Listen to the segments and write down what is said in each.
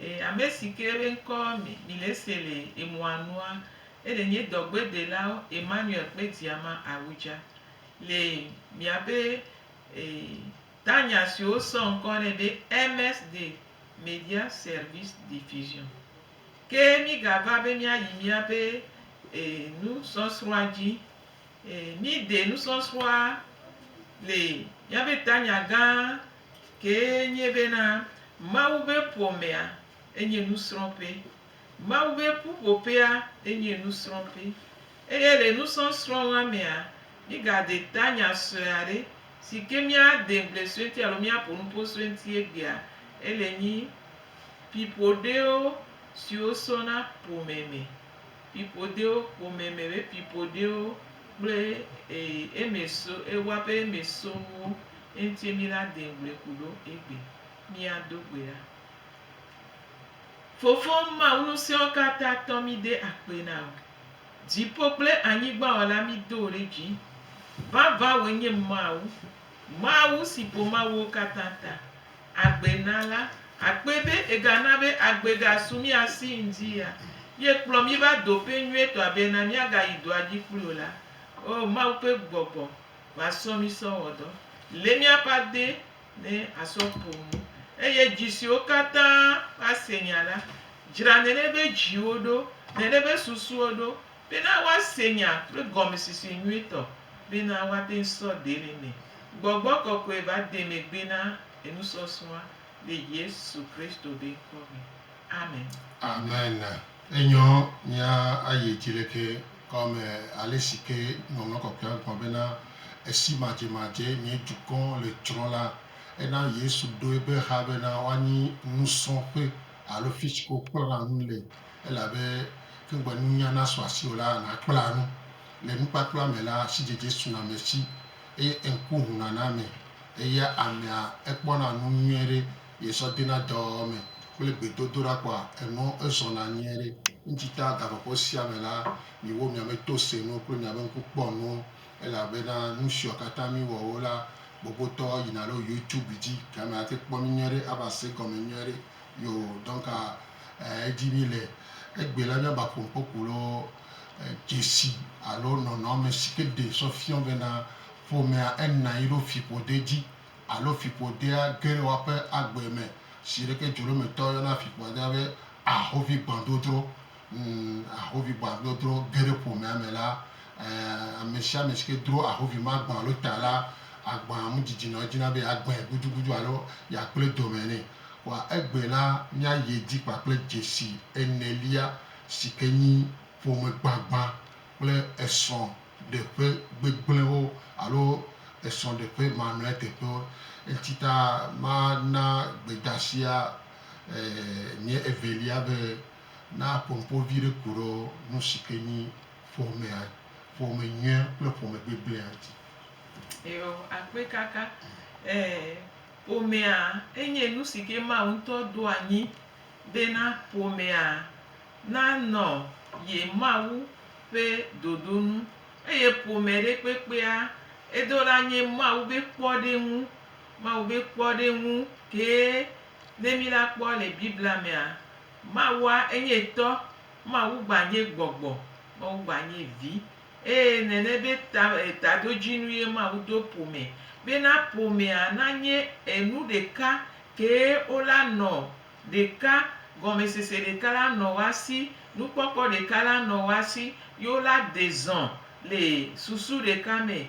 E amesi ke be ŋkɔ mi mi le ese le emɔa nua, eɖe nye dɔgbedelawo Emmanuel kpe Diama Awudja le miabe e tanya si wosɔ ŋkɔ nɛ be MSD Media Service Diffusion. Ke migava be miayi miabe e nusɔsrɔ̃a dzi. E mide nusɔsrɔ̃a le miabe tanya gã kee nye bena Mawu ƒe ƒomea enye nusrɔ̃ƒe. Mawu ƒe ƒuƒoƒea enye nusrɔ̃ƒe. Eye le nusɔsrɔ̃a mea, mígade ta nya sue aɖe si ke míade ŋugble sue ŋuti alo míaƒo nu ƒo sue ŋuti egbea, ele nyi ƒiƒoɖewo siwo sɔna ƒome me. Pipoɖewo ƒome me be pipoɖewo kple ee eme so ewa ƒe eme sowo eŋuti mi la de ŋugble ku ɖo egbe mia do gbe ɖa. Fofo Mawu nusiawo katã tɔ mi de akpe na wò. Dziƒo kple anyigba wɔla mi do ɖe dzi. Vavã wò enye Mawu. Mawu si ƒo Mawuwo katã ta. agbe na la, akpɔe be egana be agbe gasu mía si ŋdi ya, ye kplɔ mí va do ƒe nyuietɔa bena míagayi dɔa dzi kpli o la, O Mawu ƒe gbɔgbɔ, va sɔ mí sɔ wɔ dɔ. Lé míaƒe ade ne asɔ ƒo nu, eye dzi siwo katã ase nya la, dzra nenebe dziwo ɖo, nenebe susuwo ɖo, Bena woase nya kple gɔmesese nyuitɔ, bena woate ŋu sɔ dee le eme. Gbɔgbɔ kɔkɔe va de megbe na enusɔsrɔ̃a le Yesu Kristo be ŋkɔ me. Amen. Amen. Enyɔ mía ayi edzi le ke kɔ me ale si ke Ŋɔŋlɔ Kɔkɔea gblɔ bena, Esi madzemadzee nye dukɔ le tsrɔ̃ la, ena Yesu ɖo eƒe ha bena woanyi nusrɔ̃ƒe alo fi si ke wokplɔna nu le Elabe ke ŋugbe nunya nasu asi o la, nàkpla nu. Le nukpakpla me la, asidzedze suna ame si, eye ŋku ʋuna na ame, eya amea ekpɔna nu nyuie ɖe ye sɔ dena dɔ wɔwɔ me kple gbedodoɖa kpɔa enu ezɔna nyuie ɖe. Ŋuti ta gaƒoƒo sia me la, miwo miame to se nu kple miabe ŋku kpɔ nu, elabena nu siwo katã miwɔwo la, gbogotɔ yina ɖo YouTube dzi, gamea ate kpɔ mi nyuie ɖe ava se egɔme nyuie ɖe. Yo donc edi mi le egbe la mia ba ƒo ŋkɔ ku lo dzesi alo nɔnɔme si ke ɖe sɔ fiɔ be na ƒomea ena yi ɖo fiƒode dzi alo fiƒodea ge le woaƒe agbe me. Zi ɖe ke dzoɖometɔ yɔna fiƒodea be ahovi gbãdodro. Ahovigbã dodro ge ɖe ƒomea me la, ame sia ame si ke dro ahovi ma gbã alo ta la, agbã mu didi nɔ edzi na be yeagbãe gudugudu alo yeakple dɔme nɛ. Kpɔa egbe la, míayi edzi kpakple dzesi enelia si ke nyi ƒomegbagbã kple esrɔ̃ɖeƒe gbegblẽwo alo esrɔ̃ɖeƒe mamlɛ teƒewo. Enti ta mana gbedasia nye evelia be. Na ƒonuƒo vi ɖe ku ɖe nu si ke nyi ƒomea, ƒome nyuia kple ƒome gbegblẽa ŋuti. Eɔ, akpe kaka. E, ƒomea enye nu si ke Mawu ŋutɔ ɖo anyi bena ƒomea nanɔ ye Mawu ƒe ɖoɖo nu. Eye ƒome ɖe kpekpea edo la nye Mawu be kpɔɖeŋu. Mawu be kpɔɖeŋu kee Ne mila kpɔ le Biblia mea, Mawua enye tɔ, Mawu gba nye gbɔgbɔ, Mawu gba nye vi, eye nene be ta tadodzinu ye Mawu do ƒome bena ƒomea na nye enu ɖeka kee wo la nɔ ɖeka, gɔmesese ɖeka la nɔ woa si, nukpɔkpɔ ɖeka la nɔ woa si, ye wo la dezɔ̃ le susu ɖeka me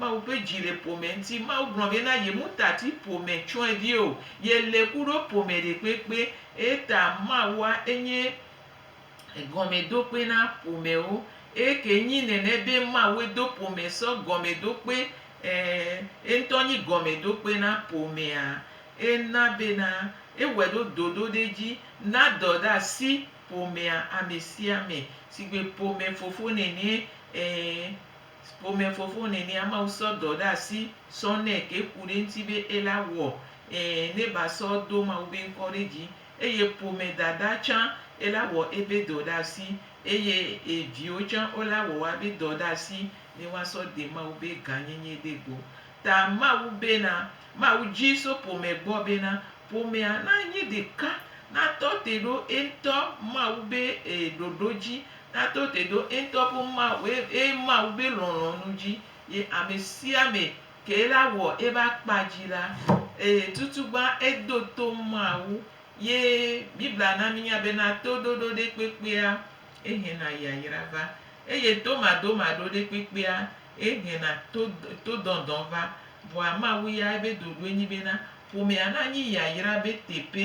Mawu ƒe dzi le ƒome ŋuti. Mawu gblɔ be na yemutati ƒome tsyɔ̃evi o. Yele ku ɖo ƒome ɖekpekpe. Eyata Mawua enye gɔmedokpe na ƒomewo. Eye ke nyi nɛnɛ be Mawue do ƒome sɔ gɔmedokpe, ẽ, eŋutɔ nyi gɔmedokpe na ƒomea, ena bena ewɔe ɖo dodoɖedzi na dɔɖeasi ƒomea amesiame, sigbe ƒome fofo nɛnɛ, ẽ, Ƒome fofo nenia Mawu sɔ dɔ ɖe asi sɔ nɛ ke ku ɖe eŋuti be ela wɔ ẽ ne ba sɔ do Mawu be ŋkɔ ɖe dzi. Eye ƒome dada tsã ela wɔ ebe dɔ ɖe asi eye e viwo tsã ola wɔ woa be dɔ ɖe asi ne woa sɔ de Mawu be ga nyenye ɖe gbɔ. Ta Mawu bena, Mawu dzi so ƒome gbɔ bena ƒomea na nyi ɖeka, na tɔ te ɖo eŋutɔ Mawu be e ɖoɖo dzi Nato te ɖo eŋutɔ ƒe Mawue, eye Mawu be lɔlɔ̃nu dzi ye amesiame ke la wɔ eƒe akpa dzi la, eye tutugbã edo to Mawu. Ye Biblia na mínya bena to ɖoɖo ɖe kpekpea ehena yayra va, eye to madomaɖo ɖe kpekpea ehena to, to dɔndɔn va. Vɔa Mawu ya ebe ɖoɖoe nyi bena ƒomea nanyi yayra be teƒe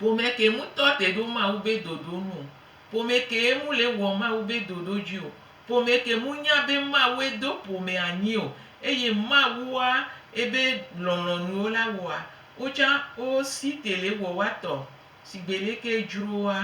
Ƒome ke ŋutɔ te ɖo Mawu be ɖoɖo nu o. Ƒome kee ŋu le wɔ Mawu be ɖoɖo dzi o. Ƒome ke ŋu nya be Mawue do ƒome anyi o, eye Mawua ebe lɔlɔ̃nuwo la wɔa wo tsã wo si te le wɔ woa tɔ sigbe leke edzroa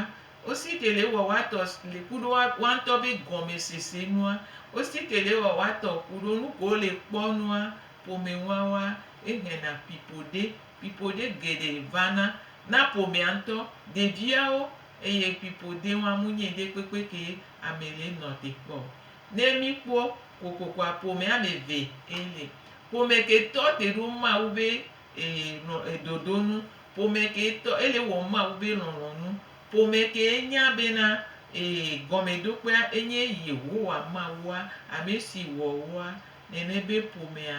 wo si te le wɔ woa tɔ le ku ɖo woa ŋutɔ be gɔme sese nua wo si te le wɔ woa tɔ ku ɖo nuke wo le kpɔ nua ƒome ŋua woa ehena pipo ɖe. Fiƒode geɖe vana na ƒomea ŋutɔ, ɖeviawo, eye fiƒode wɔa munye ɖe kpekpe ke ame le nɔ te kpɔ o. Ne míkpɔ kokokoa ƒomea me eve e le. Ƒome ke tɔ te ɖo Mawu be e lɔ e dodo nu. Ƒome ke tɔ ele wɔ Mawu be lɔlɔ nu. Ƒome ke nya bena e gɔmeɖokpea enye Yehowa Mawua, ame si wɔ woa, nene be ƒomea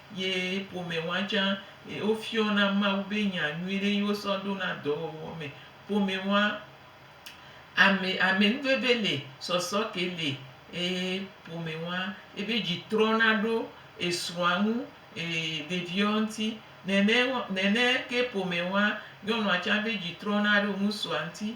ye ƒome wa tsã wofiɔna Mawu be nya nyuiɖe ye wosɔ ɖona dɔwɔwɔ me. Ƒome wa ame amenuveve le, sɔsɔ ke le eye ƒome wa ebe dzi trɔna ɖo esrɔ̃a ŋu, ɖeviawo ŋuti. Nene nene ke ƒome wa nyɔnua tsã be dzi trɔna ɖo ŋutsua ŋuti.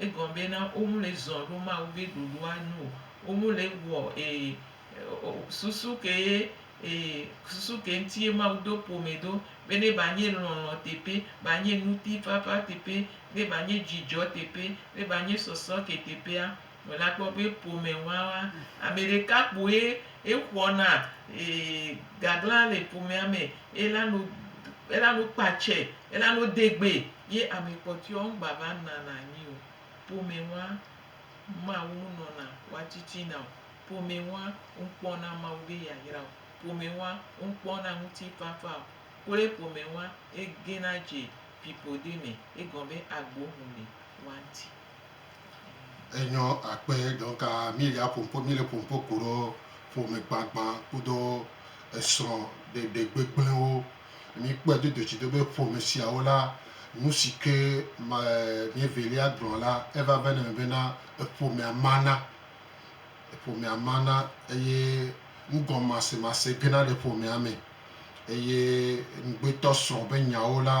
Egɔme be na womu le zɔn ɖo Mawu be ɖoɖo a nu o. Womu le wɔ e susu ke ye e susu ke ŋuti ye Mawu do ƒome ɖo be ne ba nye lɔlɔ teƒe, ba nye ŋutifafa teƒe, ne ba nye dzidzɔ teƒe, ne ba nye sɔsɔ ke teƒea, wòle akpɔ be ƒome wawa. Ame ɖeka kpoe exɔ na e gagla le ƒomea me. Ela nu ela nu kpa tsɛ, ela nu de gbe. Ye ame kpɔtɔeɔ ŋgbava nana anyi o, ƒomɛwa Mawu nɔna woatittina o, ƒomɛwa ŋkpɔna Mawu be yayra o, ƒomɛwa ŋkpɔna ŋutifafa o, kloe ƒomɛwa egena dze ƒiƒode me, egɔme be agbo ŋu le woa ŋti. Enyɔ akpe donc milia ƒoƒo mile ƒoƒo koɖo ƒome gbagban kudo esrɔ ɖeɖe gbegblẽwo. Míekpɔe do dotsido be ƒome siawo la, nu si ke ma míevelia gblɔ la, eva vana eme bena eƒomea mana, eƒomea mana eye nugɔmasemase gena le ƒomea me. Eye ŋugbetɔsrɔ̃ ƒe nyawo la,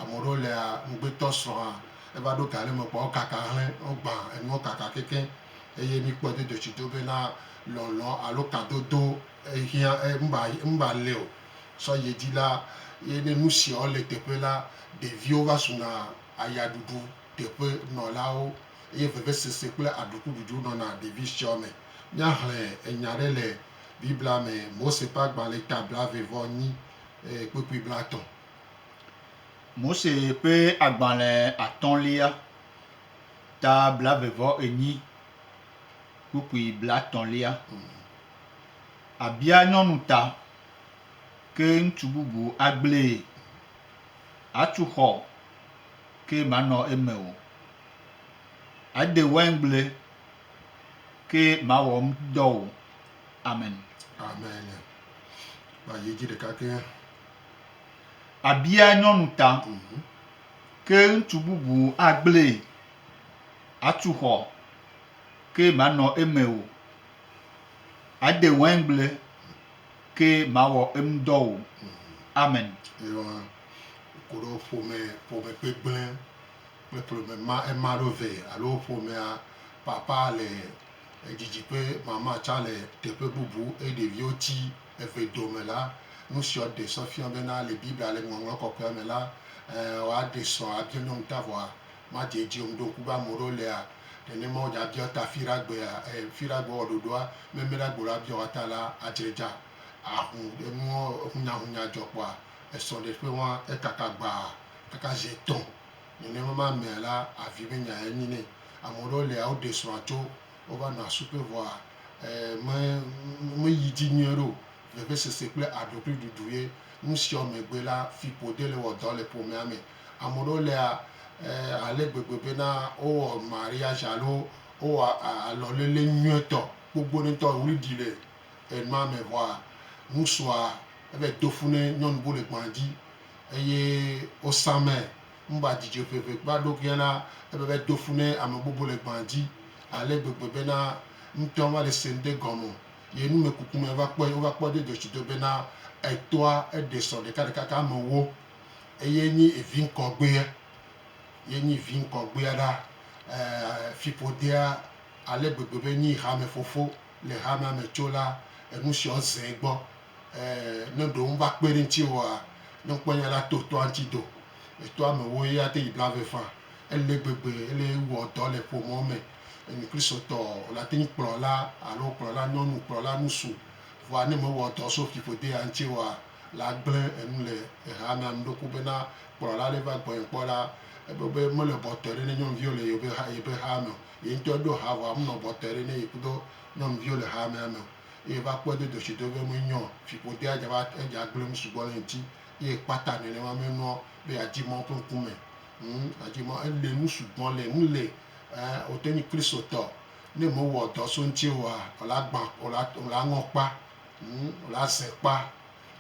ame aɖewo lea ŋugbetɔsrɔ̃a eva ɖo ga ɖe me kpɔa wokaka hlẽ, wogbã enuwo kaka kekeŋ. Eye míekpɔe do dotsido bena lɔlɔ̃ alo kadodo ehiã, e, ŋba, ŋba le o. sɔ ye dzi la, ye ne nu siawo le teƒe la, ɖeviwo va suna ayaɖuɖu teƒe nɔlawo eye vevesese kple aɖukududui nɔna ɖevi siawo me. Míaxlẽ enya aɖe le Biblia me, Mose ƒe Agbalẽ ta blaeve vɔ enyi, kpukpui blatɔ̃. Mose ƒe Agbalẽ atɔ̃lia ta blaeve vɔ enyi, kpukpui blatɔ̃lia. Abia nyɔnu ta, ke ŋutsu bubu agblee. Atu xɔ, ke manɔ eme o. Ade waingble, ke mawɔ eŋudɔ o. Amen. Amen. Kpa yi dzi ɖeka ke. Abia nyɔnu ta, ke ŋutsu bubu agblee. Atu xɔ, ke manɔ eme o. Ade wɛngble ke mawɔ eŋudɔ o. Amen. Eyɔ koɖo ƒome ƒome gbegblẽ kple ƒome ma ema ɖo vɛ alo ƒomea papa le edzidzi ƒe mama tsã le teƒe bubu eye ɖeviwo ti eve dome la, nusiɔ ɖe sɔ fia bena le Biblia le Ŋɔŋlɔ Kɔkɔea me la, ɛ, woaɖe sɔ abia nyɔnu ta vɔa Matthew dzi yom ɖo ŋku be ame ɖewo lea, nenema wodza biɔ ta fi ɖa gbea, e, fi ɖa gbe wɔ ɖoɖoa, meme ɖa gbe ɖoa biɔ wa ta la, adzre dza. Ahu enuɔ hunyahunya dzɔ kpɔa, esɔ ɖe ƒe wan ekaka gbaa, kaka zi etɔn. Nenema ma mea la, avi be nya ya nyi nɛ. Ame ɖewo lea, wo ɖe srɔ̃a tso, wo va nɔa suƒe vɔa, e, me, me yi dzi nyuie ɖe o. Vevesese kple aɖokuiɖuɖu ye. Nusiɔ megbe la, fiƒode le wɔ dɔ le ƒomea me. Ame ɖewo lea ale gbegbe bena wowɔ mariage alo wowɔ alɔlele nyuietɔ gbogboɖe ŋutɔ, ɣli ɖi le enua me vɔa ŋutsua evayi do ƒu ne nyɔnu bu le gbɔa dzi eye wosa mɛ. Ŋba dzi dze ʋeʋe kpla ɖokuia na ebe evayi do ƒu ne ame bubu le gbɔa dzi ale gbegbe bena ŋutɔa va le se ŋɖe gɔme o. Ye numekuku me va kpɔe, wova kpɔe do dzɔtsi do bena etoa eɖe sɔ ɖekaɖeka ke amewo. Eye nyi vi ŋkɔgbea, ye nyi vi ŋkɔgbea ɖa. Ɛɛ, fiƒodea ale gbegbe be nyi hamɛfofo le hamɛ me tso la, enu siɔ zẽ gbɔ. Ɛɛ, ne ɖewo ŋ va kpe ɖe ŋtsi oa, ne ŋ kpɔɛ nya la to tɔa ŋtsi do. Etɔa me woe a te yi bla ve fã. Ele gbegbe ele wɔ dɔ le ƒomɔ me. Enyi Kristotɔ ɔ, o la te nyi kplɔla alo kplɔla nyɔnu, kplɔla ŋsu. Vɔa ne me wɔ dɔ so fiƒodea ŋtsi oa, la gblẽ enu le exa na nuɖoku bena, Kplɔla aɖe va gbɔnye kpɔ la, ebu be mele bɔtɔe ɖe ne nyɔnuviwo le yeƒe xaa me o. Ye ŋutɔ eɖo ha vɔ amunɔ bɔtɔe ɖe ne yekudo nyɔnuviwo le xamea me o. Eye va kpɔe do doshi do be me nyɔ fiƒodea dza va edza gblẽ nu sugbɔ le ŋuti. Eye kpata nenema me nua be yadi mɔ ƒe ŋkume. Ŋ, yadi mɔ ele nu sugbɔ le ŋu le ɛ wote nyi Kristotɔ ne me wɔ dɔ so ŋuti oa, ela gbã, ela, ela ŋɔ kpa. Ŋu le ase kpa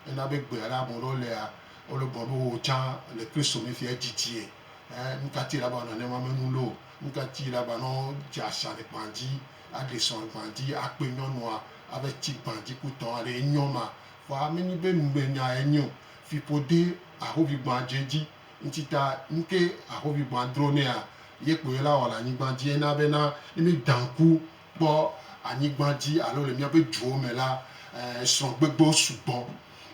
ena be gbe ale ame ɖewo lea wole gbɔ be wo tsã le Kristo me fia dzi tie. Ɛ nuka ti laba nane ma me nu lo? Nuka ti laba nɔ dze asha le gban dzi aɖe sɔ le gban dzi akpe nyɔnua ave tsi gban dzi ku tɔn aɖe enyɔ ma? Vɔa me nyi be nugbe nya e nyio. Fipo de ahovi gban dze dzi ŋtsi ta nuke ahovi gban dro nɛa ye kpoe la wɔ le anyigban dzi ena be na ne mi dan ku kpɔ anyigba dzi alo le míaƒe duwo me la, srɔ̃gbegbewo sugbɔ.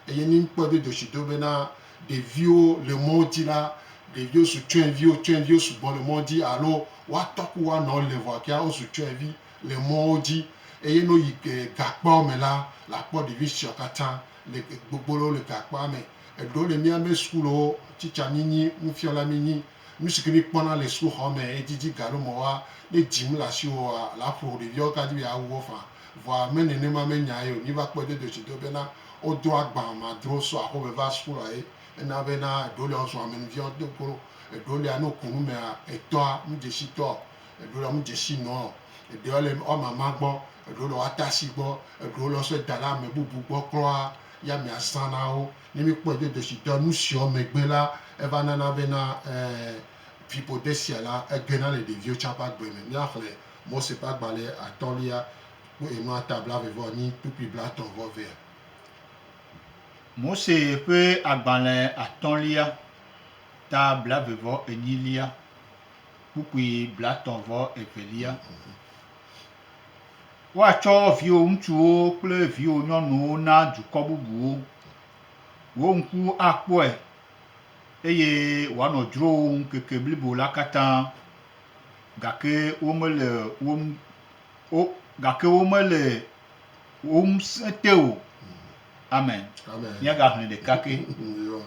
Eye ne míkpɔe do dzesi do bena ɖeviwo le mɔ dzi la, ɖeviwo su tsyɔ̃eviwo, tsyɔ̃eviwo sugbɔ le mɔ dzi alo woatɔ ku woanɔwo le vɔa kea wosu tsyɔ̃evi le mɔwo dzi. Eye ne woyi gakpeawo me la, àkpɔ ɖevi siawo katã le gbogbo le gakpea me. Eɖewo le míaƒe sukulowo, tsitsianyinyi, nufiala minyi Nu si ke míekpɔna le sukuxɔ me edzidzi galo mɔ woa, ne dzi mele asiwòa, la ƒo ƒo ɖeviawo ka dzi be yeawu wo faa. Vɔa me nenema menya ye o. Míva kpɔe dodo tsi do bena wodro agbã madro so aƒeme va suku lae. Ena bena eɖewo lia wozua amenuviawo do go. Eɖewo lia ne woku nu mea, etɔa medze si tɔ o. Eɖewo lia medze si nɔ o. Eɖewo le woa mama gbɔ. Eɖewo le woa tasi gbɔ. Eɖewo le wosɔe da ɖe ame bubu gbɔ kura ye amea zã na wo. Ne míkpɔe do do si dɔ nu siɔ megbe la, eva nana bena fiƒode sia la, egena le ɖeviwo tsã ƒe agbe me. Míaxlẽ Mose ƒe agbalẽ atɔ̃lia kple enu ata blaeve-vɔ-enyi kpukpui blatɔ̃-vɔ-evea. Mose ƒe agbalẽ atɔ̃lia, ta blaeve-vɔ-enyilia, kpukpui blatɔ̃-vɔ-evelia. Woatsɔ viwò ŋutsuwo kple viwò nyɔnuwo na dukɔ bubuwo. Wò ŋku akpɔe, eye wòanɔ dzrowòm ŋkeke blibo la katã, gake womele wò ŋu, wo, gake womele wò ŋusẽ te o. Amen. Amen. Míagaxlẽ ɖeka ke. Yoo.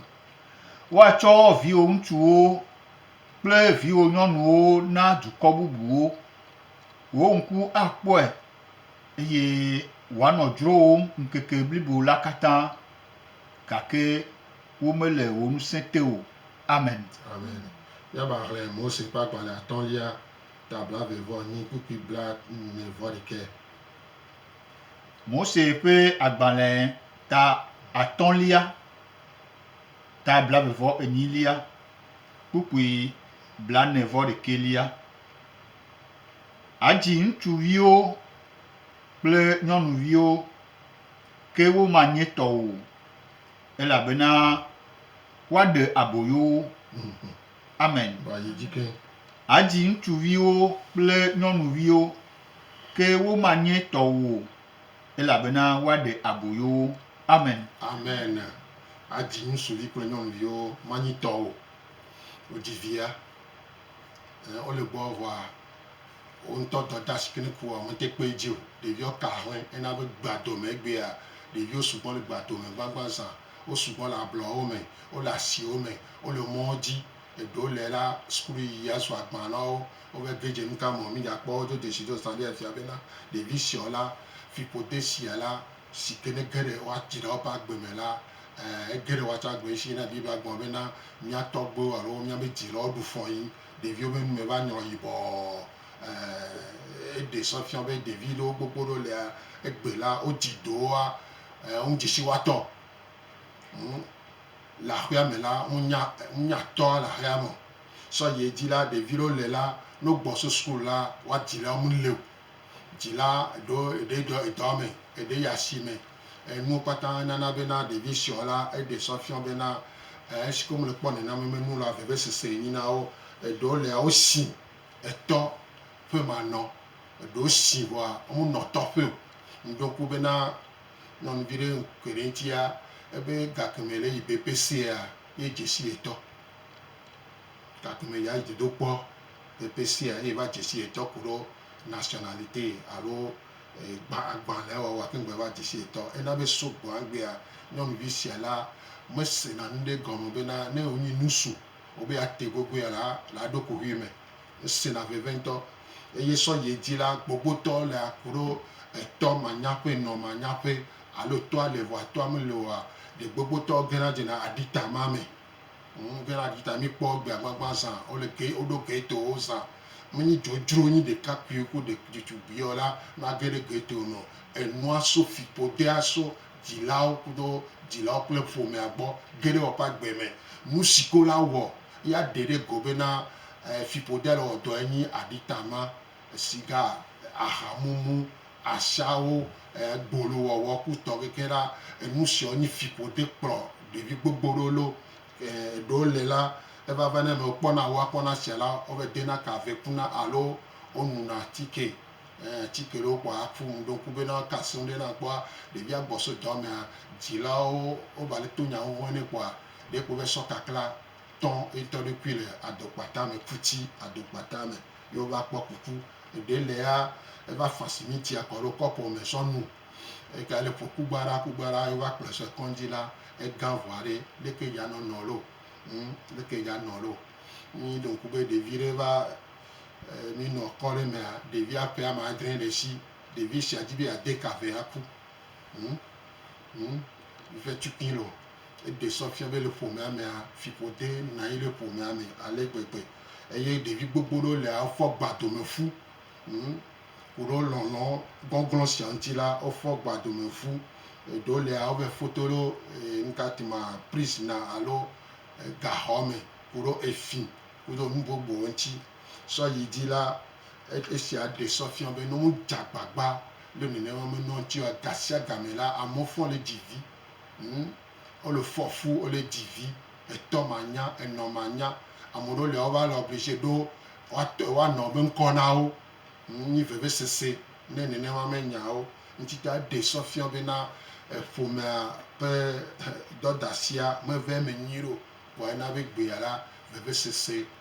Woatsɔ viwò ŋutsuwo kple viwò nyɔnuwo na dukɔ bubuwo. Wò ŋku akpɔe, eye wòanɔ dzrowòm ŋkeke blibo la katã, gake womele wò ŋusẽ te o. Amen. Amen. Míavaxlẽ Mose ƒe agbalẽ atɔ̃lia, ta blaeve-vɔ-enyi kpukpui blaene-vɔ-ɖekɛ. Mose ƒe agbalẽ ta atɔ̃lia, ta blaeve-vɔ-enyilia kpukpui blaene-vɔ-ɖekɛlia. Adzi ŋutsuviwo kple nyɔnuviwo, ke womanye tɔ o, elabena woaɖe aboyo wo. Amen. Adzi ŋutsuviwo kple nyɔnuviwo, ke womanye tɔ o, elabena woaɖe aboyo wo. Amen. Amen. Adzi ŋutsuvi kple nyɔnuviwo, manyi tɔ o. Wodzi via. Wole gbɔɔ vɔa, wo ŋutɔ dɔdasi kini ku ɔ, mete kpɔɛ ji o. Ɖeviɔ ka ahlɛn. Ena be gbea domɛ egbea, ɖeviwo sugbɔ le gbea domɛ gbagba zã. Wo sugbɔ le ablɔwo mɛ, wole asiwo mɛ, wole mɔwo ji. Eɖewo le la, suklu yiyia zu agban na wo. Wova ge dze nuka mɔ mìdza kpɔ wo do jeshi do zã ɖe afia bena ɖevi siɔ la, fiƒode sia la, si ke ne ge ɖe woatsi ɖe woƒe agbe me la, ẽ, ege ɖe woatsɔ agbe ŋuti na Biblia gblɔ bena, Mía tɔgbuiwo alo míaƒe dzilawo ɖu fɔ yi ɖeviwo ƒe nu me va nyrɔ yibɔɔ. Ẽ, eɖe se fia be ɖevi ɖewo gbogbo ɖewo lia, egbe la, wodzi do woa, ẽ, ŋu dze si woatɔ. Ŋu, le aƒea me la, ŋu nya, ŋu nya tɔa le aƒea me o. Sɔ yi edzi la, ɖevi ɖewo le la, ne wogbɔ so sukulu la, woa dzilawo mele o. Dzila ɖo eɖe ɖɔ edɔ me, eɖe yi asi me. Enuwo kpata nana bena ɖevi sɔ la eɖe sɔ fiɔ bena esi ke wo me kpɔ nena me me nu la veve sese enyi na wo. Eɖewo lia wo si etɔ ƒe ma nɔ, eɖewo si vɔa wo nɔ tɔ ƒe o. Ŋu ɖo ŋku bena nyɔnuvi ɖe ŋkɔe ɖe ŋuti ya ebe gakeme le yi be peseea ye dze si etɔ. Gakeme ya yi dodokpɔ. Pɛpɛ sia ye va dzesi etɔ ku ɖo nationalite alo agbalẽ wɔwɔ ake ŋgbe va dzesi etɔ. Ena be sugbɔ egbea nyɔnuvi sia la me sena nuɖe gɔme be na ne wonyi nusu wobe ate gogoea la le aɖoko ʋui me. Esena veve ŋutɔ. Eye sɔ yi edzi la, gbogbotɔ le aku ɖo etɔ manya ƒe nɔ manya ƒe alo tɔa le vɔa tɔa mele oa, ɖe gbogbotɔ gena dzena aɖita ma me. Ŋɖela ɖita mi kpɔ gbea gbagba zã wole ke woɖo ke to wo zã mi nyi dzodzro nyi ɖeka kpui ku ɖe ɖitsu bia wo la no age ɖe ke to nɔ enua so fipo de a so dzilawo kudo dzilawo kple ƒomea gbɔ ge ɖe woƒe agbe me nu si ke wo la wɔ ya ɖe ɖe go be na fipo de a le wɔ dɔ enyi aɖita ma siga, ahamumu, ashawo, gbolo wɔwɔ ku tɔ keke ɖa, enu siɔ nyi fiƒo te kplɔ ɖevi gbogbo ɖewo lo. Eɖewo le la, eva va na ne wokpɔna wo akɔ na sia la, wo va dena ka ve kuna alo wo nuna atike. Ɛɛ atike ɖewo kpɔa a ƒu nu ɖe ŋku be ne woaka asem ɖe na kpɔa ɖevia gbɔ so dɔ mea, dzilawo wo va le to nya ŋuŋue nɛ kpɔa ɖe kpo va sɔ kakla tɔ eŋtɔ ɖokui le adokpata me, ƒuti adokpata me. ye wova kpɔ kuku. Eɖe le ya eva fa simitia kɔ ɖo kɔpo me sɔ nu. Ega le ƒo kugbaɖa kugbaɖa ye wova kplɔe sɔe kɔŋdzi la egã ŋu aɖe. Leke dza nɔ nɔ lo ŋ leke dza nɔ lo. Mi ɖo ŋku be ɖevi ɖe va e mi nɔ kɔ ɖe mea ɖevia ƒe ame adre le si. Ɖevi sia di be ya de ka ve aku ŋ. Ŋu ve tu ĩ lɔ. Eɖe sɔ fia be le ƒomea mea, fiƒo de na yi le ƒomea me ale gbegbe. Eye ɖevi gbogbo ɖewo le a fɔ gba dome fu. Ŋu koɖo lɔlɔ gɔnglɔn sia ŋuti la, wo fɔ gba dome fu. Eɖewo le a wo ve foto ɖo ŋka ti ma pris na alo gaxɔ me koɖo efi koɖo nu gbogbo ŋuti. Sɔ yi dzi la, esia ɖe sɔ fia be ne wodze agbagba le nenema me nɔ ŋuti oa, gasiagame la, amewo fɔ le dzi vi. Ŋ, wole fɔ fu, wole dzi vi, etɔ manya, enɔ manya. Ame ɖewo lia wova le oblige ɖo woatɔ, woanɔ be ŋkɔ na wo. Ŋ, nyi vevesese ne nenema me nyawo. Ŋuti ta eɖe sɔ fia be na ƒomea ƒe dɔdasia meve eme nyuie ɖeo, vɔa ena be egbea la, vevesese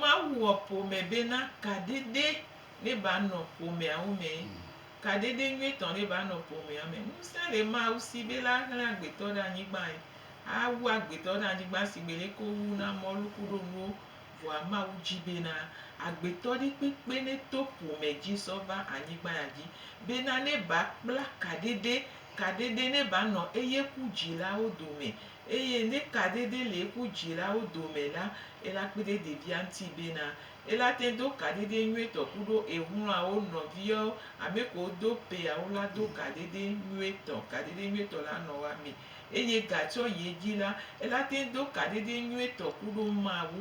Mawu wɔ ƒome bena kaɖeɖe ne ba nɔ ƒomeawo me. Kaɖeɖe nyuietɔ ne ba nɔ ƒomea me. Ŋusẽ le Mawu si be la hlẽ agbetɔ ɖe anyigbae. A wu agbetɔ ɖe anyigba sigbe le ke wowu na mɔlu kuɖo nuwo. Vɔa Mawu dzi bena agbetɔ ɖe kpekpe ne to ƒome dzi sɔ va anyigba ya dzi. Bena ne ba kpla kaɖeɖe, kaɖeɖe ne ba nɔ eye ku dzilawo dome. Eye ne kaɖeɖe le eƒu dzilawo dome la, ela kpe ɖe ɖevia ŋuti bena, ela te do kaɖeɖe nyuietɔ kuɖo ehlɔawo nɔviawo, ame kewo do peawo la do kaɖeɖe nyuietɔ, kaɖeɖe nyuietɔ la nɔ woa me. Eye gatsɔ yi edzi la, ela te do kaɖeɖe nyuietɔ kuɖo Mawu,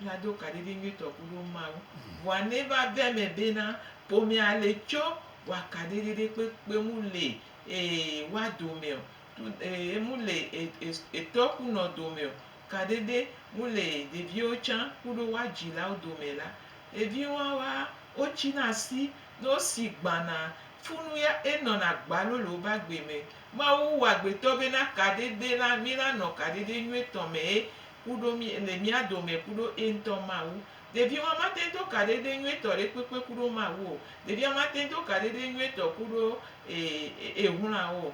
ela do kaɖeɖe nyuietɔ kuɖo Mawu. Vɔa ne eva ve eme bena, ƒomea le tsɔ wɔa kaɖeɖe ɖe kpekpe ŋu le e woa dome ɔ, enu le etɔ ku nɔ dome o, kaɖe ɖe mu le ɖeviwo tsã kuɖo woa dzilawo dome la, evi wawa wotsi na asi ne wosi gbana funu ya enɔna gbalo le wobe agbe me. Mawu wɔ agbetɔ bena kaɖe ɖe la mi la nɔ kaɖe ɖe nyuitɔ me ye kuɖo mi le mía dome kuɖo eŋutɔ Mawu. Ɖeviwa mate do kaɖe ɖe nyuitɔ ɖe kpekpe kuɖo Mawu o. Ɖevia mate do kaɖe ɖe nyuitɔ kuɖo ehloawo o.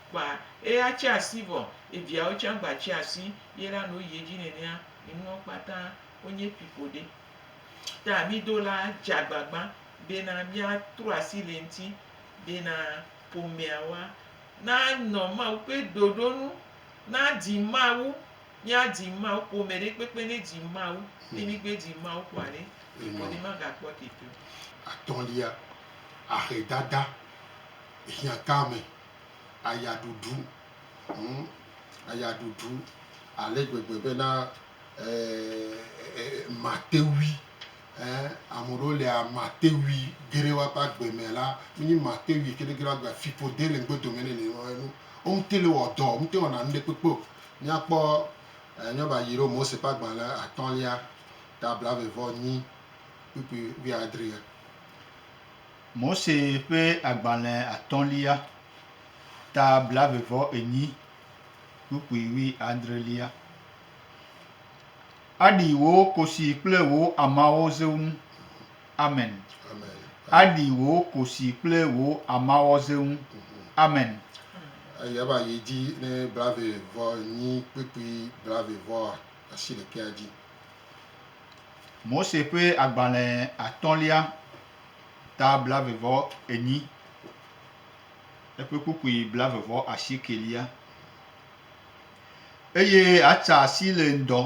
Kpa eye atsi asi vɔ ye viawo tse agba tsi asi ye la no yie dzi nenea enuwo kpata wonye ƒiƒo ɖe. Ta mi do la dze agbagba be na mia tro asi le ŋti be na ƒomea wa na nɔ Mawu ƒe ɖoɖo nu, na di Mawu, mia di Mawu, ƒome ɖe kpekpe ne di Mawu, ne mi gbe di Mawu kɔa ɖe ƒiƒo ɖe ma ga kpɔ tete o. Atɔlia, ahe dada hiã tame. ayaɖuɖu ŋu, ayaɖuɖu ale gbegbe bena matewui, ame ɖewo lia matewui geɖe woaƒe agbe me la, wonye matewui geɖe geɖe woaƒe agbe me, fiƒode le ŋgbe dome nɛ nene ma enu. Womete le wɔ dɔ, womete wɔna nu ɖe kpekpe o. Míakpɔ míava yi ɖo Mose ƒe agbalẽ atɔ̃lia ta blauevɔ nyi kpukpui wuiadrea. Mose ƒe agbalẽ atɔ̃lia, ta blave vɔ enyi, kpukpui wui adrelia. Aɖi wò kosi kple wò amawo zeŋ. Amen. Aɖi wò kosi kple wò amawo zeŋ. Amen. Eya va yi dzi ne blave vɔ enyi, kpukpui blave vɔ asiɖekɛa dzi. Mose ƒe agbalẽ atɔ̃lia. ta blave vɔ enyi, eƒe kpukpui blave vɔ asiekelia. Eye atsa asi le ŋdɔ,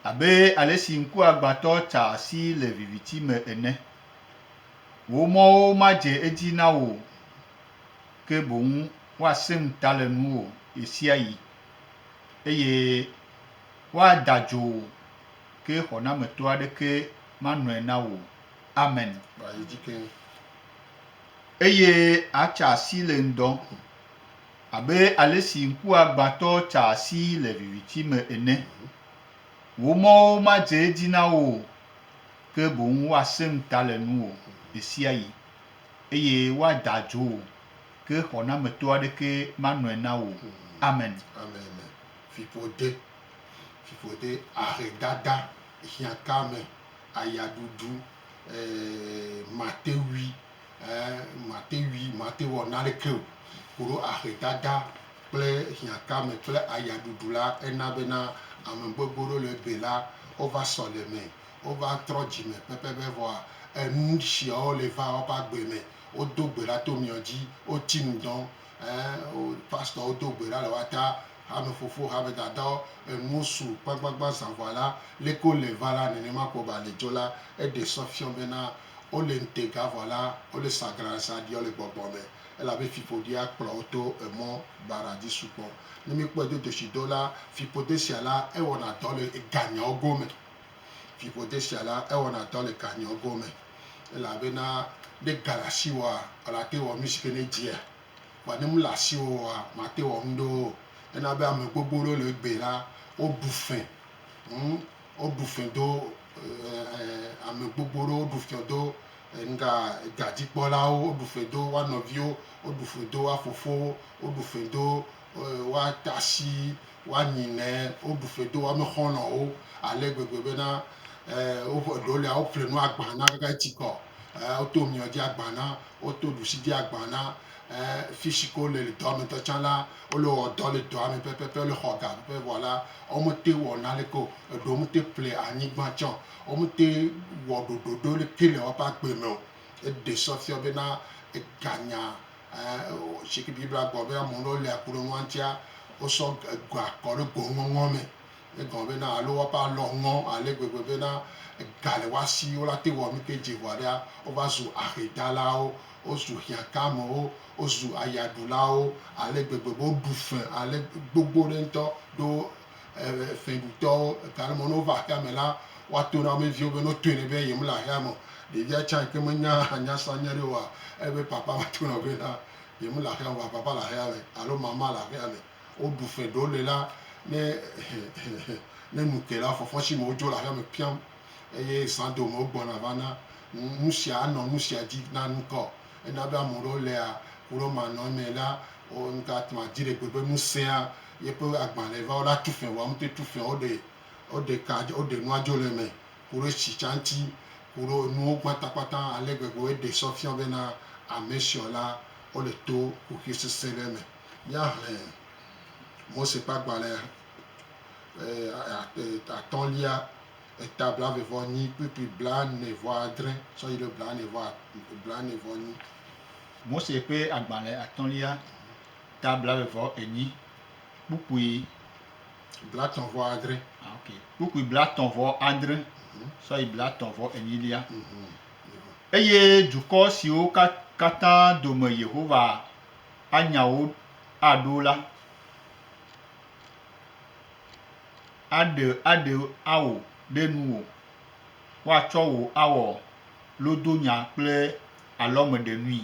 abe alesi ŋkuagbãtɔ tsaa asi le viviti me ene. Wò mɔwo madze edzi na wò o, ke boŋ woasẽ ŋuta le nuwò ɣesiaɣi, eye woada dzo wò, ke xɔnametɔ aɖeke manɔe na wò. Amen. Eye àtsa asi le ŋdɔ, abe alesi ŋkuagbãtɔ tsaa asi le viviti me ene. Wò mɔwo madze edzi na wò o, ke boŋ woasẽŋ ta le nuwò ɣesiaɣi, eye woada adzo wò, ke xɔnameto aɖeke manɔe na wò o. Amen. Amen. Fiƒode, fiƒode, ahedada. Hiãtame, aya ɖuɖu, eeee mate ŋui, eeee mate ŋui, mate wɔ naneke o, koɖo ahedada kple hiãtame kple aya ɖuɖu la, ena bena ame gbogbo ɖewo le ebe la, wova sɔleme, wova trɔ dzime pɛpɛpɛ vɔa enu shiawo le va woƒe agbe me. Wodo gbe ɖa to miɔ dzi, woti nu dɔn, eeee pastor wo do gbe ɖa le woata. Hamefofo, hamedadɔ, enuwo su kpagbagba zã vɔa la, leke wole va la, nenema ko ba le dzo la, eɖe sɔ fiɔ bena wole ŋtega vɔ la, wole sa glan zã ɖiɔ le gbɔgbɔ me, elabe fiƒoɖia kplɔ wo to emɔ baɖa dzi sukpɔ. Ne mi kpɔe do doshi do la, fiƒode sia la, ewɔna dɔ le ega nyawo go me. Fiƒode sia la, ewɔna dɔ le ga nyawo go me, elabena ne ga le asi wòa, ela te wɔ nu sike ne edzia. Vɔ ne mele asiwò oa, mate wɔ nuɖe wo o. Ena be ame gbogbo ɖewo le egbea la, woɖu fẽ. Ŋ, woɖu fẽ do ame gbogbo ɖewo, woɖu fẽ do ŋga dadzikpɔlawo, woɖu fẽ do woa nɔviwo, woɖu fẽ do woa fofowo, woɖu fẽ do woa tasi Woanyi ne woɖu fe do woame xɔlɔ̃wo ale gbegbe bena, e, woƒe ɖewo lia woƒle nu agbã na kaka eti kɔ, e, woto miɔ dzi agbã na, woto ɖusi dzi agbã na, e, fishi ke wole le dɔa me ŋutɔ tsã la, wole wɔ dɔ le dɔa me pɛpɛpɛ, wole xɔ ga pɛpɛ vɔ la, womete wɔ naneke o. Eɖewo womete ƒle anyigba tsã o. Womete wɔ ɖoɖoɖo ɖeke le woƒe agbe me o. Eɖe sɔ fiɔ bena eganya Ci Biblia gblɔ be ame ɖewo lia ku ɖe nua ŋutia, wosɔ ga kɔ ɖe go ŋɔŋɔ me. Egɔme bena alo woƒe alɔ ŋɔ ale gbegbe bena ga le woa si, wola te wɔ nu ke dze ŋua ɖea, wova zu ahedalawo, wozu hiãkamewo, wozu ayaɖulawo ale gbegbe be woɖu fe ale gbogbo ɖe ŋutɔ ɖo fɛɖutɔwo ega le mɔ ne wova xexea me la, woato na wo me viwo be ne wotɔe nɛ be yemele axea me o. Ɖevia tsã yi ke menya nyasanya ɖe oa, ele be papa ma to nɔ be na yemele axea me o vɔa papa le axea me alo mama le axea me. Woɖu fɛ ɖewo le la ne ne nu ke la fɔfɔ si me wodzo le axea me piam eye zã dome wogbɔna va na. Nu sia anɔ nu sia dzi na ŋkɔ. Ena be ame ɖewo lea ku ɖe womanɔ eme la, wo ŋtatma dziɖegbe be nu sẽa. Yeƒe agbalẽ va woɖa tu fɛ̃ wɔm te tu fɛ̃ woɖe woɖe ka woɖe nua dzo le eme kuɖo etsi tsa ŋti kuɖo enuwo gbata kpata ale gbegbe wo eɖe sɔ fiɔ bena ame siɔ la wo le to kuxi sese ɖe me. Mía hlẽ Mose ƒe agbalẽ atɔlia eta blave vɔ nyi kplikpli blane vɔ adre sɔ yiɖo blane vɔ blane vɔ nyi. Mose ƒe agbalẽ atɔlia. Ta blaeve vɔ enyi, kpukpui blatɔ̃ vɔ adre. Ah, ok. Kpukpui blatɔ̃ vɔ adre mhm. sɔ yi blatɔ̃ vɔ enyilia. Mhm. Eye dukɔ siwo katã dome Yehowa anya wo aɖo la aɖe aɖe ao ɖe nuwò. Woatsɔ wò awɔ lodonya kple alɔmeɖenui.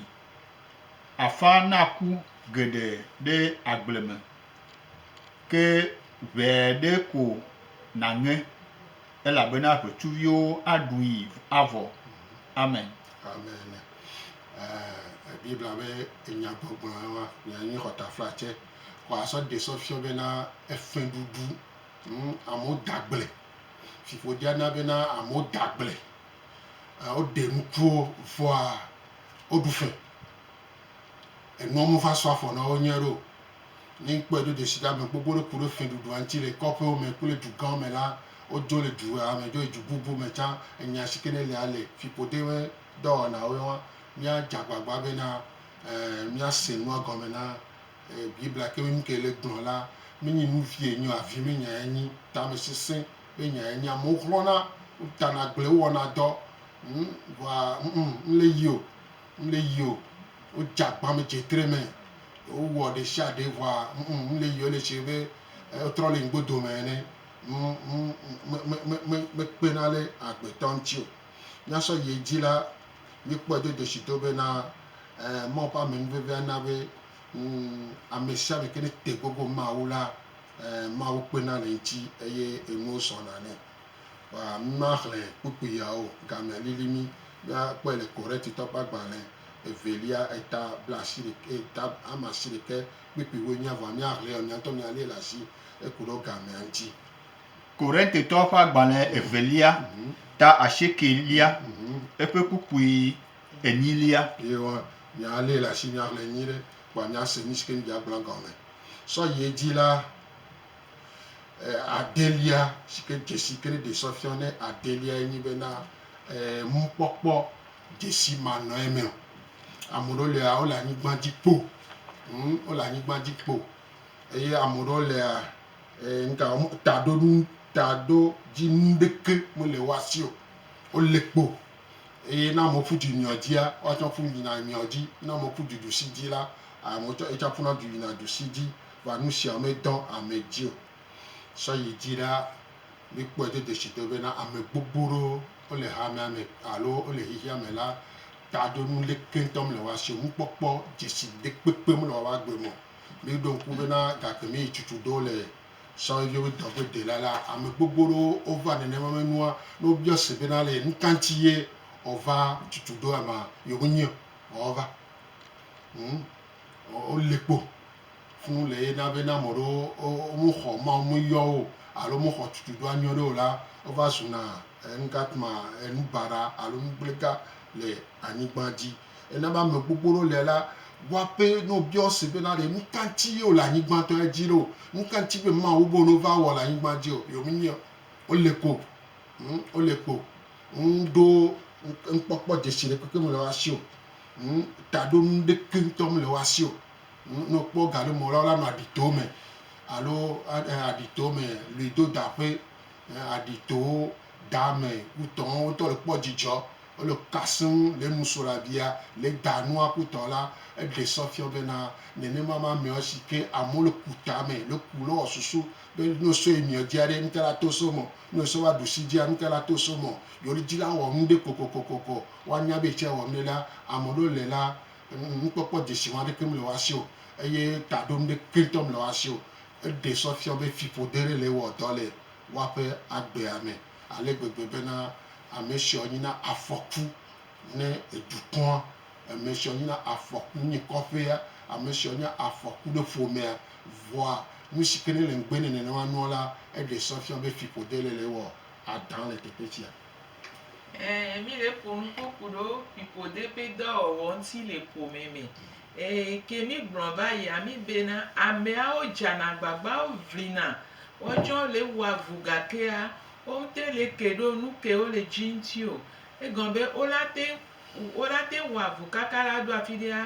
Afã naku geɖe ɖe agble me, ke ʋɛ aɖe ko nàŋe, elabena ʋetsuviwo aɖui avɔ. Amen. Amen. Ɛɛ Biblia be enyagbɔgblɔe wa nyea nye xɔtaflatse. Ko asɔ ɖe sɔ fiɔ bena efɛɖuɖu ŋu amewo da agble. Fiƒodea na bena amewo da agble. Woɖe nukuwo vɔa Woɖu fɛ. Enuɔ me va sɔ afɔ na wo nyuie ɖe o. Ne ŋkpɔɛ do jeshi ɖe ame gbogbo ɖe ku ɖe fɛɖuɖua ŋti le kɔƒewo me kple dugãwo me la, wodzo le dua me dzo yi du bubu me tsã. Enya sike ne lia le fiƒode ƒe dɔwɔnawo ye wa. Mía dze agbagba bena mía se nua gɔme na Biblia ke be nuke le gblɔ la, me nyi nu vie nyi o, avi me nyae nyi, tamesesẽ Ye nyae nye amewo xlɔna, wotana agble, wowɔna dɔ, ŋ, vɔa ŋ, ŋ, mle yi o, mle yi o. Wodze agbame dze tre me, wowɔ ɖeshiaɖe vɔa ŋ, ŋ, mle yi o. Ele esi be wotrɔ le ŋgbe dome ene. Ŋ, ŋ, me, me, me, me, mekpena ɖe agbetɔ ŋuti o. Míasɔ yi edzi la, míekpɔe do dzesi do bena, ɛɛ, Mawu ƒe amenuvevea na be, Ŋu, amesiame ke ne te gogo Mawu la, ẽ, Mawu kpena le eŋuti eye enuwo sɔna nɛ. Kpa, mímaxlẽ kpukpui ya o, gamea lili mí. Míakpɔe le Korintitɔ ƒe agbalẽ evelia, eta blaasiɖekɛ, eta amasiɖekɛ, kpukpuiwoe míenya, vɔa míaxlẽe o, míaŋutɔ míalée le asi eku ɖe wo gamea ŋuti. Korintitɔ ƒe agbalẽ evelia, ta asiekɛlia, eƒe kpukpui enyilia. Ye wa nya ale le asi nya xlẽ nyui ɖe wa nya se nu si ke nudzia gblɔa gɔme. Sɔ yi edzi la, e adelia si ke dzesi ke ne ɖe sɔ fiɔ ne adelia ye nyi be na e mukpɔkpɔ dzesi ma nɔ eme o. Ame ɖewo lea wole anyigba dzi kpo ŋ wole anyigba dzi kpo eye ame ɖewo lea e ŋka taɖoɖu taɖo dzi nu ɖeke mele woa si o. Wole kpo. Eye ne amewo ƒu du nyrɔ dzia, woatsã ƒu yina nyrɔ dzi. Ne amewo ƒu du ɖusi dzi la, amewo tsã, yetsã ƒuna du yina ɖusi dzi. Vɔa nu sia medɔ ame dzi o. Sɔ yi dzi ɖa, míkpɔe do dzesi do bena ame gbogbo ɖewo wole hamea me alo wole xexea me la ta ɖo nu leke ŋutɔ mele woa si o. Nukpɔkpɔ dzesi ɖekpekpe mele woa agbe me o. Míɖo ŋku bena gakpemɛ yi tsutsu ɖewo le. Sɔhɛviwo be dɔ ƒe dela la, ame gbogbo ɖewo wova nenema me nua ne wobiɔ se bena le nuka ŋuti ye wòva tutu ɖo ama yewo menye o vɔ wova. Hm, wo- wole kpo fũu le ye na be ne ame ɖewo wo- womexɔ Mawu meyɔ wo alo womexɔ tutu ɖoa nyuie ɖe o la, wova zuna enuka ma, enubaɖa alo nugblẽga le anyigba dzi. Ena be ame gbogbo ɖewo le la bua be ne wobia wo se bena ɖe nu ka ŋuti ye wole anyigbãtɔ ya dzi ɖo, nu ka ŋuti be Mawu be no va wɔ le anyigba dzi o. Yewo menye o. Wole ko. Hm, wole ko. Ŋu ɖo nukpɔkpɔ dzesi ɖekpekpe mele woa si o. Hm, taɖonu ɖeke ŋutɔ mele woa si o. Hm, ne wokpɔ ga ɖe mɔ la, wola nɔ aɖi towo me alo aɖi towo me lui do da ƒe. Hm, aɖi towo, da me, wutɔ wo ŋutɔ le kpɔ dzidzɔ. Wole kasẽm le nusrɔ̃labia le da nua ku tɔ la, eɖe sɔ fiɔ bena, nenema ma mɛɔ si ke amewo le ku tamɛ le ku lɔ ɔ susu be ne wo sɔ yi miɔ jia ɖe, ŋtɛ la to so mɔ ne wo sɔ va ɖu si jia, ŋtɛ la to so mɔ yewo li ji la wɔ ŋɖe kokokokoko. Woa nya be ecɛ wɔmɖe la, amɔ ɖewo le la, ŋkpɔkpɔ jeshi wa ɖeke mle woa sio, eye taɖo ŋɖe ke ŋtɔ mle woa sio. Eɖe sɔ fiɔ be fiƒode ɖe le wɔ dɔ le woaƒe agbea mɛ. ale gbegbe bena ame siɔ nyi na afɔku ne edukɔa, ame siɔ nyi na afɔku ne kɔƒea, ame siɔ nye afɔku ne ƒomea. Vɔa nusike ne le ŋgbe nɛ nenema nua la, eɖe sɔ fiɔ be fiƒode le le ewɔ adã le teƒetsia. Ɛɛ, mí le ƒonu kpokpu ɖo fiƒode ƒe dɔwɔwɔ ŋuti le ƒome me. Ɛɛ, ke mígblɔ va yia mí bena, Ameawo dzana agbagba woʋlina, woatsɔ le wua vu gakea womete le ke ɖo nu ke wole dzi ŋuti o. Egɔme be wola te, wola te wua vu kaka la ɖo afi ɖea?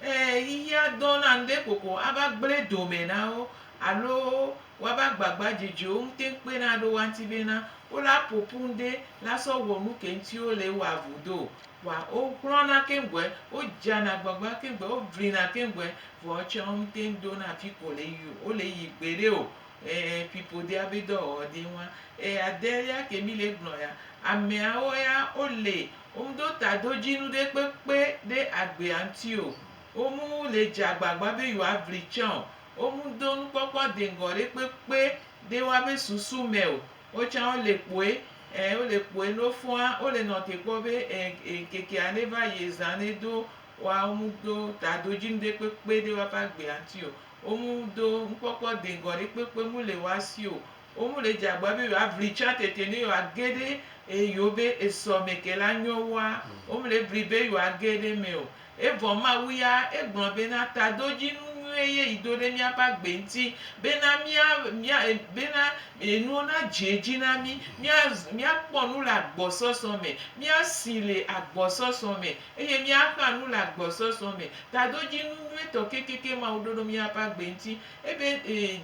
Ɛɛ, xexea dɔna ŋɖe kokoko ava gblẽ dome na wo alo woava gbagba dzedze wo ŋute kpena ɖo woa ŋuti bena wola ƒoƒu ŋɖe la sɔ wɔ nu ke ŋuti wole wua vu do o. Wa wo hlɔna keŋ gbɔɛ, wo dzana gbagba keŋ gbɔɛ, wo glina keŋ gbɔɛ, vɔ etsɛ wo ŋtɛnŋ dona fi ko le yi o, wo le yi gbeɖe o. Ɛɛ pipo dea be dɔ wɔwɔ de ŋua. Eya de ya ke mi le gblɔ ya. Amɛawo ya wo le, wo ŋdo tadojinu ɖe kpekpe ɖe agbea ŋti o. Wo mu le dze agbagba be yewoa vli tsã o. Wo mu do nukpɔkpɔ deŋgɔ ɖe kpekpe ɖe woabe susu mɛ o. Wo tsã wole kpɔe, ẽ, wole kpɔe ne wofɔa, wole nɔ te kpɔ be, ẽ, ẽ, ŋkekea neva yi zã ne do woa, wo mu do tadoji ŋɖe kpekpe ɖe woaƒe agbea ŋuti o. Wo mu do nukpɔkpɔ deŋgɔ ɖe kpekpe mu le woa si o. Wo mu le dze agba be yewoa vli tsã tete ne yewoa ge ɖe, ẽ, yewo be esɔ me ke la nyɔ woa, wo mu le vli be yewoa ge ɖe eme o. Evɔ Mawu ya, egblɔ bena, Tadodzinu nyuie ye yi do ɖe míaƒe agbe ŋuti, bena mía, mía, bena enuwo nadze edzi na mí, mía, míakpɔ nu le agbɔsɔsɔ me, míasi le agbɔsɔsɔ me, eye míaxa nu le agbɔsɔsɔ me. Tadodzinu nyuietɔ kekeake Mawu ɖo ɖo míaƒe agbe ŋuti. Ebe, e,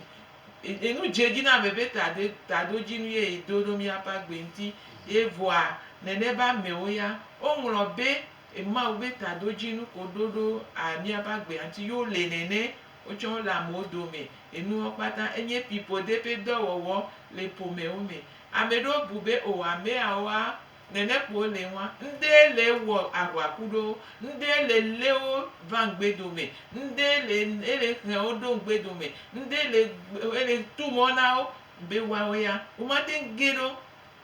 e, enu dze edzi na ame be tade, tadodzinu ye yi do ɖo míaƒe agbe ŋuti. Evɔa, nenema amewo ya, woŋlɔ be Mawu be taɖodzi nu ko ɖo ɖo a miabe agbea ŋuti yo le nɛnɛ wotsɔ wo le amewo dome. Enuwo kpata enye piƒode ƒe dɔwɔwɔ le ƒomewo me. Ameɖewo bu be o ameawoa nɛnɛ ko wo le ŋua, ŋde le wɔ ahua ku ɖowo, ŋde le le wo va ŋgbe dome, ŋde le ele xlẽ wo ɖo ŋgbe dome, ŋde le ele tu mɔ na wo be woawo ya womate ŋu ge ɖo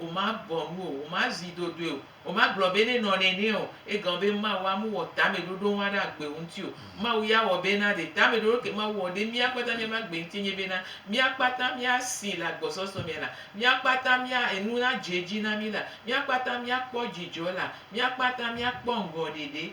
Womabɔ nu o, womazi dodoe o, womagblɔ be ne nɔ nɛnɛ o. Egao be Mawu amu wɔ tameɖoɖo ŋua ɖe agbe ŋuti o. Mawu ya wɔ be na ɖe tameɖoɖo ke Mawu wɔ ɖe mía kpata míaƒe agbe ŋuti nye be na mía kpata mía si le agbɔsɔsɔ me la, mía kpata mía enu nadze edzi na mí la, mía kpata mía kpɔ dzidzɔ la, mía kpata mía kpɔ ŋgɔ ɖeɖe.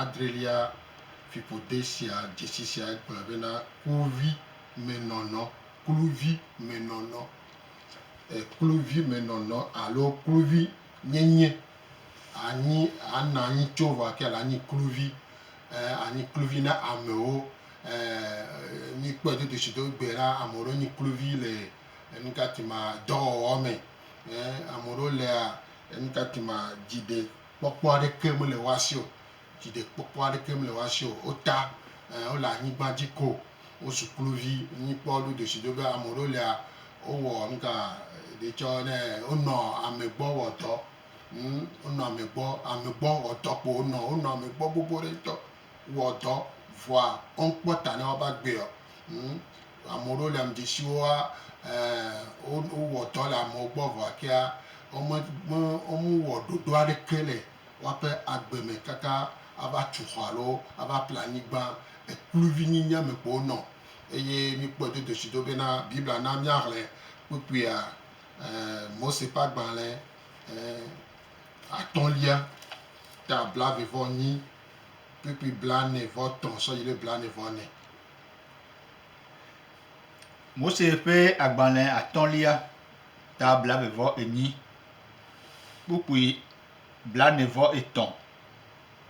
adrelia fiƒode sia dzesi sia gblɔe bena kluvi me nɔnɔ, kluvi me nɔnɔ, kluvi me nɔnɔ alo kluvi nyenye anyi ana anyi tso vɔ ake la anyi kluvi anyi kluvi na amewo mi kpɔe dodo si do gbe la ame ɖewo nyi kluvi le nukati ma dɔwɔwɔ me ame ɖewo lea nukati ma dziɖe kpɔkpɔ aɖeke mele woa si o, dziɖekpɔkpɔ aɖeke mele woa si o. Wota, ɛɛ, wole anyigba dzi ko. Wozu kluvi. Míkpɔ ɖo ɖeshiɖe be ame ɖewo lia, wowɔ ŋka ɖe tsɔ ne wonɔ ame gbɔ wɔ dɔ. Ŋ, wonɔ ame gbɔ, ame gbɔ wɔ dɔ kpo wonɔ. Wonɔ ame gbɔ gbogbo ɖe ŋutɔ. wɔ dɔ vɔa woŋkpɔ ta ne woa va gbee ɔ. Ŋ. Ame ɖewo le am dzi si woa e wo wɔ dɔ le amewo gbɔ vɔa kea wo me me wo me wɔ ɖoɖo aɖeke le woaƒe agbe me kaka ava tu xɔ alo ava ƒle anyigba. Ekpluvi nyi nye ame kpo wo nɔ. Eye mi kpɔe do doshi do bena Biblia na mia hlẽ kpukpuia e Mose ƒe agbalẽ e atɔ̃lia ta blave vɔ nyi. kpukpui blaene-vɔ-tɔ̃ sɔ yi ɖe blaene-vɔ-ene. Mose ƒe agbalẽ atɔ̃lia, ta blaeve-vɔ-enyi, kpukpui blaene-vɔ-etɔ̃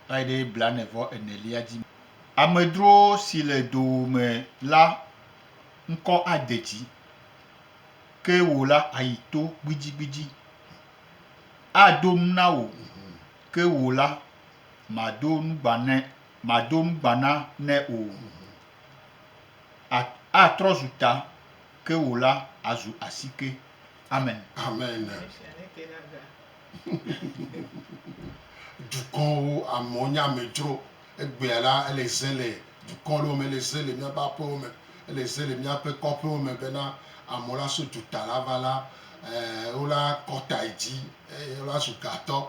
va yi ɖe blaene-vɔ-enelia dzi. Amedzro si le dowòme la ŋkɔ ade dzi, ke wò la àyi to gbidzigbidzi. Ado nu na wò, ke wò la, mado nugba ne mado nugba na ne o. At, atrɔ zu ta ke wò la azu asike. Amen. Amen. Dukɔwo, amewo nye amedzro. Egbea la, ele ze le dukɔ ɖewo me, ele ze le míaƒe aƒewo me, ele ze le míaƒe kɔƒewo me bena amewo la so duta la va la, e, wola kɔta yi dzi eye wola zu gatɔ.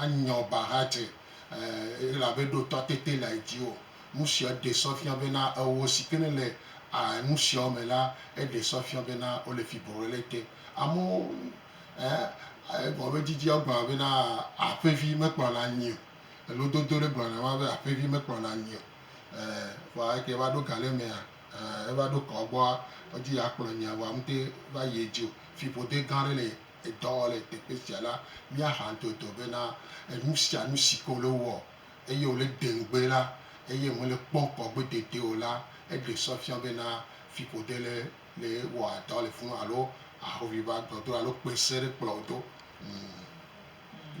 anyɔ ba hadze elabe eɖotɔ tete le edzi o. Nusia ɖe sɔ fia bena ewɔ si ke nele nusiawo me la, eɖe sɔ fia bena wole fi bɔbɔe ɖe te. Amewo egɔme me didi wo gblɔna bena aƒevi mekplɔna nyi o. Lododo ɖe gblɔna ema be aƒevi mekplɔna nyi o. Vɔa eke va ɖo ga ɖe mea, eva ɖo kɔa gbɔa, edi yeakplɔ nyia vɔa mete va yi edzi o. Fiƒode gã ɖe le. dɔ le teƒe sia la, míaha ŋutoto bena enu sia nu si ke wòle wɔ eye wòle ɖe ŋugbe la eye mele kpɔm kpɔ gbedodoɖee o la, eɖe sɔ fia bena fiƒode le le wɔa dɔ le funu alo ahoʋiʋli ƒe agbɔdɔdrɔ̃ alo kpẽ sẽ ɖe kplɔ wò do.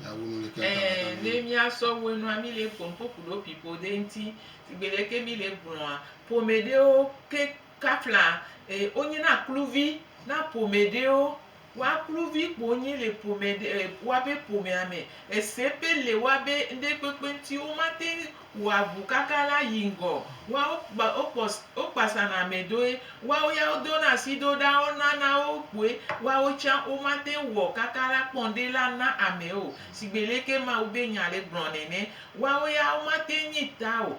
Ɛ̃, ne míasɔ wɔ enua, míle kpɔm kpɔ ku ɖo fiƒode ŋuti. Sigbe ɖe ke míle gblɔa, ƒome ɖewo ke. Kapla e wonyi na kluvi na ƒome ɖewo. Wa kluvi kpo wonyi le ƒome ɖe e woabe ƒomea me. Ese pe le woabe ŋɖe kpekpe ŋti wo ma teŋ wɔa ŋu kaka la yi ŋgɔ o. Wa wo kpa wo kpɔ wo kpasa na ame ɖoe. Wa wo ya wo do na asi ɖo ɖa wo na na wo kpoe. Wa wo tsã wo ma teŋ wɔ kaka la kpɔ ŋɖe la na ame o. Sigbe leke Mawu be nya le gblɔ nɛnɛ. Wa wo ya wo ma teŋ nyi ta o.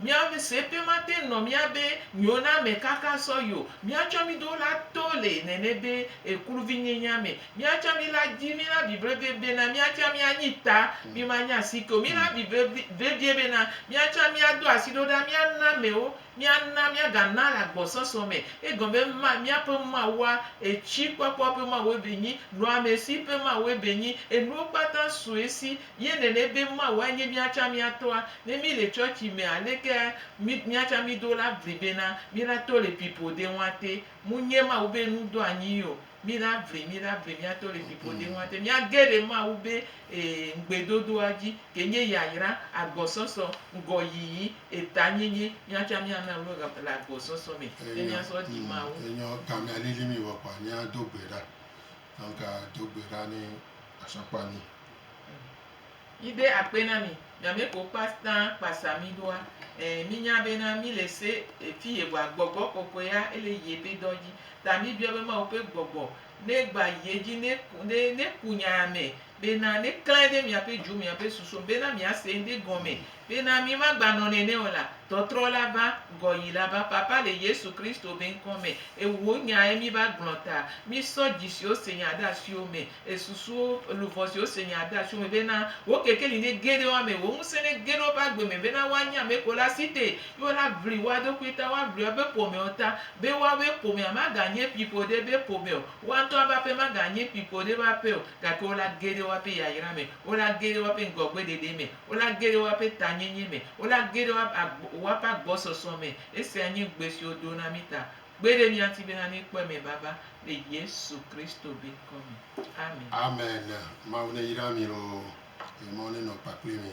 Mia me se pe mate nɔ mia be nyo na me kaka sɔ yo. Mia tsɔ mi do la to le nene be ekluvi nye nya me. Mia tsa mi la dzi mi la bi brevie be na mia tsa mia nyi ta mi ma nya si ke o. Mi la bi brevie be na mia tsa mia do asi ɖo ɖa mia na me wo. Mia na mia ga na le agbɔsɔsɔ me. Egɔme be ma mia ƒe Mawua etsi kpɔkpɔ ƒe Mawue be nyi, nɔa me si ƒe Mawue be nyi, enuwo kpata sue si Ye nene be Mawu anye mía tsã mía tɔa. Ne mí le tsɔtsi mea, aleke mí mía tsã mí do la vli bena mí la tɔ le pipo de ŋua te? Mu nye Mawu be nu do anyi yio. Mí la vli, mí la vli mía tɔ le pipo de ŋua te. Mía ge ɖe Mawu be e ŋgbe dodoa dzi ke nye yayra, agbɔsɔsɔ, ŋgɔ yiyi, eta nyenye. Mía tsã mía na lo le le agbɔsɔsɔ me ne mía sɔ ɖi Mawu. Enyɔ gamea lili mí be kɔa mía do gbe ɖa. Anga do gbe ɖa ne asakpa mi. Yi de akpe na mi. Nyame ko kpata kpasa mi ɖoa. Ɛɛ, mi nya be na mi le se efi ye bua, gbɔgbɔ kɔkɔe ya ele ye be dɔ dji. Ta mi biɔ be Mawu be gbɔgbɔ ne gba yi edji ne ku ne ku nya me bena neklãe ɖe miaƒe dzo, miaƒe susu me, bena miase ŋɖe gɔme, bena mi magbanɔ nene o la, tɔtrɔ la va, gɔyi la va. Papa, le Yesu Kristo be ŋkɔ me, Ewò Nya ye mi va gblɔ ta. Mi sɔ dzi siwo se Nya ɖe asiwo me, esusuwo, luʋɔ siwo se Nya ɖe asiwo me, bena wò kekeli nege ɖe woame, wò ŋusẽ nege ɖe woƒe agbe me, bena woanye ame ko la si te, ye wo la ʋli woa ɖokui ta, woa ʋli woabe ƒomewo ta, be woawoe ƒomea maganye kpi ƒo ɖe ebe ƒome o, woa ŋutɔ ƒe aƒe maganye kpi ƒo ɖe ebe aƒe o, Gake wo la ge ɖe woaƒe yayra me, wo la ge ɖe woaƒe ŋgɔgbeɖeɖe me, wo la ge ɖe woaƒe tanyenye me, wo la ge ɖe woaƒe agbɔsɔsɔ me. Esia nye ŋugbe si wodo na mí ta. Kpe ɖe mía ŋuti bena míekpɔe me vava le Yesu Kristo be ŋkɔ me. Amen. Amen. Mawu neyra mi loo. Ye mɔ nenɔ kpakpli mi.